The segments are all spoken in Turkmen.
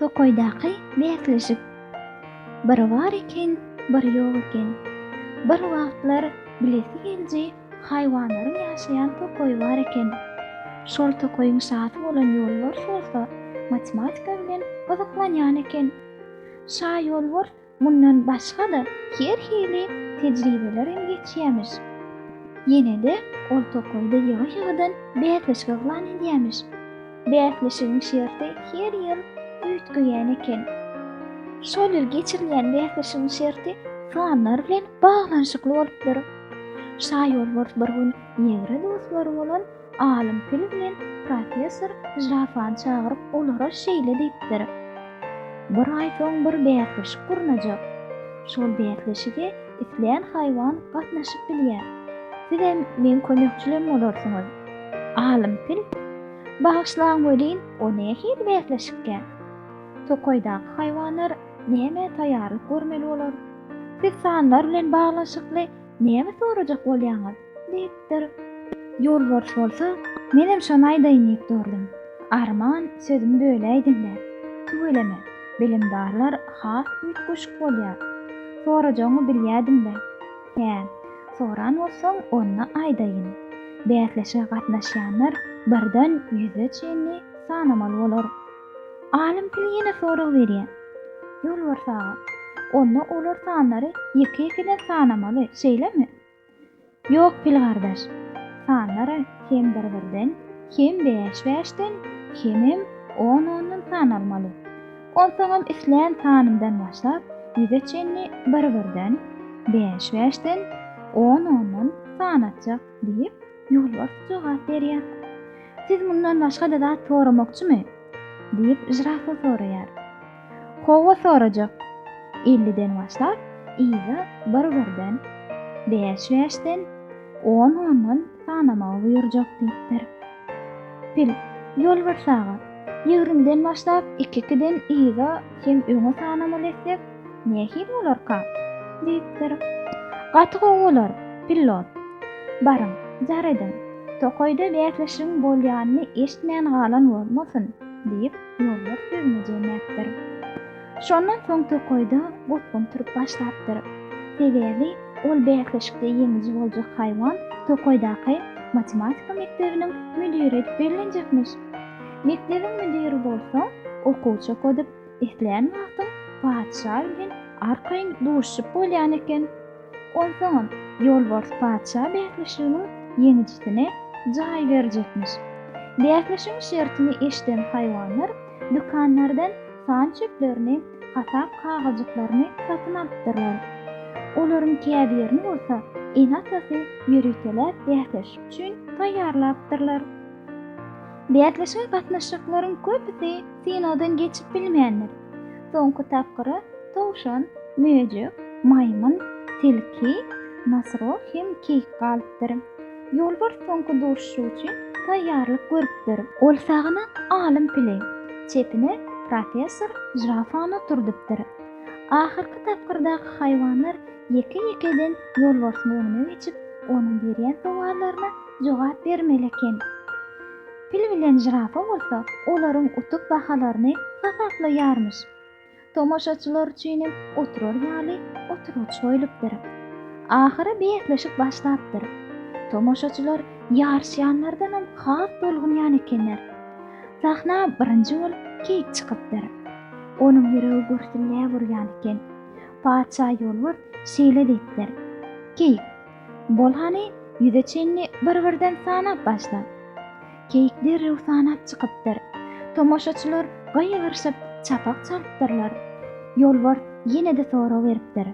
Tokaýdaky bäsleşik. Bir bar eken, bir ýok eken. Bir wagtlar bilesi geliji haýwanlaryň ýaşaýan tokaýy bar eken. Şol tokaýyň şasy bolan Ýolbars bolsa matematika bilen gyzyklanýan eken. Şa Ýolbars Mundan başga-da her hili tejribeler hem geçýämiş. Ýene-de ol tokaýda ýygy-ýygydan bäsleşik yglan edýämiş. Bäsleşigiň şerti her ýyl üýtgeýän eken. Şol ýyl geçirilýän bäsleşigiň şerti sanlar bilen baglanyşykly bolupdyr. Şaýolbars bir gün ýegre dostlary bolan Alym pil bilen professor žirafany çagyryp, olara şeýle diýipdir, Bir aý soň bir bäsleşik gurnajak. Şol bäsleşige islän haýwan gatnaşyp bilýär. Sizem meň kömekçilim bolarsyňyz. Alym pil, Bagyşlaň welin, o nähili bäsleşikkä? Tokaýdaky haýwanlar nämä taýýarlyk görmeli bolar? Siz sanlar bilen baglanyşykly näme sorajak bolýaňyz? Diýipdir. Ýolbars bolsa, Menem şony aýdaýyn diýip durdum. Arman, sözümi böläýdiň-le. Tüweleme, bilimdarlar has üýtgeşik bolýar. Sorajagyňy bilýädim-le. Hä, soran bolsaň, onda aýdaýyn. Bäsleşige gatnaşýanlar birden ýüze çenli sanamaly bolar. Alym pil ýene sorag berýär. Ýolbars aga, onda olar sanlary ýeke-ýekeden sanamaly, şeýlemi? Ýok, pil gardaş. Sanlar hem bir-birden, hem bäş-bäşden, hemem on-ondan sanalmaly. Onsoňam islän sanyndan başlap, ýüze çenli bir-birden, bäş-bäşden, on-ondan sanatjak, diýip, ýolbars jogap berýär. Siz mundan başga-da zat soramakçymy? diýip, žirafa soraýar. Howwa sorajak. Elliden başlap, yza bir-birden, bäş-bäşden, on-ondan sanamagy buýurjak diýipdir. Pil, Ýolbars aga, ýigrimden başlap, iki-ikiden yza hem öňe sanamaly etsek, nähili bolarka? diýipdir. Gaty gowy bolar, pillot. Baryň, jar ediň, tokaýda bäsleşigiň bolýanyny eşitmän galan bolmasyn, diýip, Ýollar sözüne jemläpdir. Şondan soň tokaýda gopgun turup başlapdyr. Sebäbi ol bäsleşikde ýeňiji boljak haýwan tokaýdaky matematika mekdebiniň müdiri edip bellenjekmiş. Mekdebiň müdiri bolsa okuwçy okadyp, islän wagtyň patyşa bilen arkaýyn duşuşyp bolýan eken. Onsoňam, ýolbars patyşa bäsleşiginiň ýeňijisine jaý berjekmiş. Bäsleşigiň şertini eşiden haýwanlar dükanlardan san çöplerini, hasap kagyzjyklaryny satyn alypdyrlar. Olaryň käbirini bolsa ene-atasy ýöriteläp bäsleşik üçin taýýarlapdyrlar. Bäsleşige gatnaşyjaklaryň köpüsi synagdan geçip bilmändir. Soňky tapgyra towşan, möjek, maýmyn, tilki, nasro hem keýik galypdyr. Ýolbars soňky duşuşyk üçin taýýarlyk görüpdir. Ol sagyna alym pili, çepine professor žirafany oturdypdyr. Ahyrky tapgyrdaky haýwanlar ýeke-ýekeden ýolbarsyň öňüne geçip, onuň berýän sowallaryna jogap bermeli eken. Pil bilen žirafa bolsa olaryň utuk bahalaryny hasaplaýarmyş. Tomaşaçylar üçinem oturar ýaly oturgyç goýlupdyr. Ahyry bäsleşik başlapdyr. Tomaşaçylar ýaryşýanlardanam has tolgunýan ekenler. Sahna birinji bolup Keýik çykypdyr. Onuň ýüregi gürsülläp urýan eken. Patyşa Ýolbert şeýle diýipdir, Keýik, Bol hany, ýüze çenli bir-birden sanap başla. Keýik derrew sanap çykypdyr. Tomaşaçylar gygyryşyp, çapak çalypdyrlar. Ýolbars ýene-de sorag beripdir.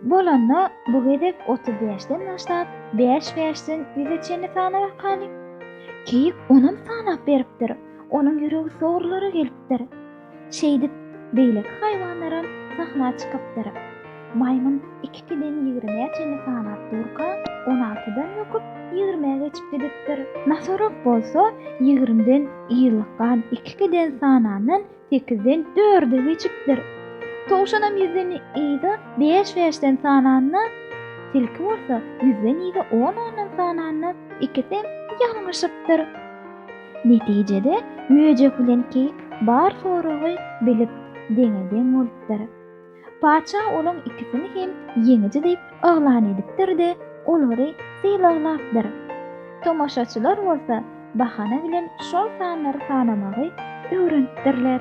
Bolanda, bu gezek otuz bäşden başlap, bäş-bäşden ýüze çenli sana bakaly. Keýik onam sanap beripdir. Onuň ýüregi sogrulara gelipdir. Şeýdip, beýleki haýwanlaram sahna çykypdyr. Maýmyn ikikiden ýigrimä çenli sanap durka, on altydan böküp, ýigrimä geçip gidipdir. Nosorog bolsa ýigrimden ýylykgan ikikiden sanandan sekizden dörde geçipdir. Towşanam ýüzden yza bäş-bäşden sananda, tilki bolsa ýüzden yza on-ondan sananda ikisem ýalňyşypdyr. Netijede, möjek bilen keýik bar soragy bilip, deňe-deň bolupdyr. Patyşa olaň ikisini hem ýeňiji diýip yglan edipdir-de, olary sylaglapdyr. Tomaşaçylar bolsa bahana bilen şol sanlary sanamagy öwrenipdirler.